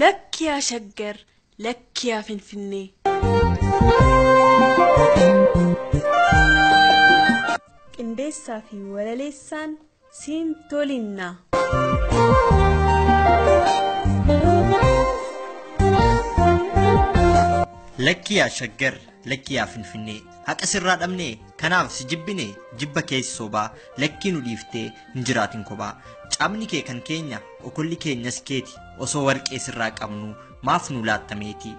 Lakki yaa Shaggar, lakki yaa Finfinnee. Qindeessaa fi walaleessaan siin tolinnaa. Lakki yaa Shaggar, lakki yaa Finfinnee. Haqa sirraa dhabnee, kanaaf si jibbine, jibba keessa sobaa, lakkii nu dhiiftee, hin jiraatin kophaa cabni kee kan keenya okolli keenyas keeti osoo warqee sirraa qabnu maaf nu laatta meetii.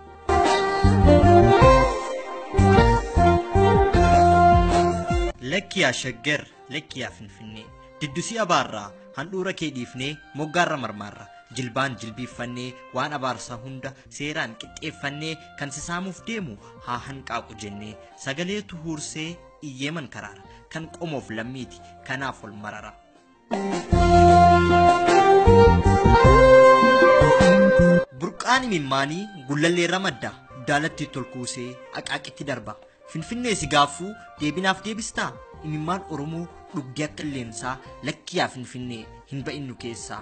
Lakki yaa shaggar lakki yaa finfinnee diddusii abaarraa handhuura kee dhiifnee moggaarra marmaarra jilbaan jilbiiffannee waan abaarsaa hunda seeraan qixxeeffannee kan sisaamuuf deemu haa hanqaaqu jennee sagaleetu huursee Iyyeeman karaara. Kan qomoof lammiiti. Kanaaf ol marara. Burqaan imimmaanii gullalleerra madda. Daalatti tolkuusee aqaaqitti darba. Finfinnee si gaaffuu deebinaaf deebistaa? Imimmaan Oromoo dhugdee akka illeensaa lakkiyaa Finfinnee hin ba'innu keessaa.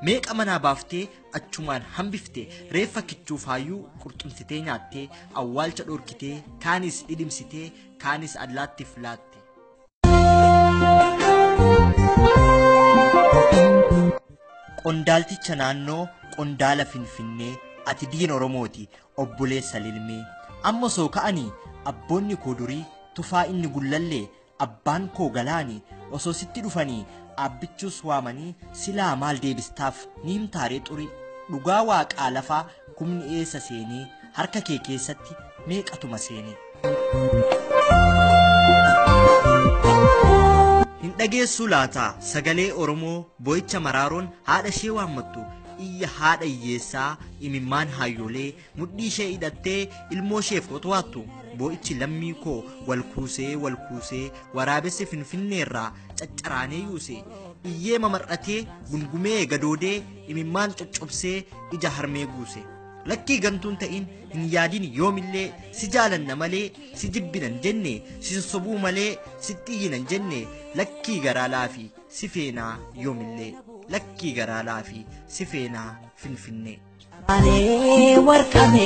Meeqa manaa baaftee achumaan hambifte reeffa kichuu faayuu qurxumsitee nyaattee awwaalcha dhorkitee kaanis dhidhimsitee kaanis allaattiif laatti. Qondaalticha naannoo qondaala Finfinnee ati diin Oromooti obboleessa lilmee. Amma soo ka'anii abboonni koo durii tufaa inni gullallee abbaan koo galaani osoo sitti dhufanii aabbichuus waamanii silaa maal deebistaaf ni himtaaree xurii. Dhugaa waaqaa lafaa Kumni eessa seenee harka kee keessatti meeqatuma seenee. Hin dhageessuu laataa sagalee Oromoo boo'icha maraaroon haadha ishee waammattu iyya haadha hiyyeessaa imimmaan haayyoolee mudhii ishee hidhattee ilmoo isheef qotowaattu boo'ichi lammii koo wal kuusee wal kuusee waraabessi finfinneerraa caccaraanee yuuse iyyee mamar'atee gungumee gadoodee imimmaan coccobsee ija harmee guuse. Lakkii gantuun ta'iin hin yaadin yoomillee si jaalanna malee si jibbinan jenne sin sobuu malee sitti iyyinan jenne lakkii garaa laafi si feenaa yoomillee lakkii garaa laafi si feenaa finfinnee. Ani warqame.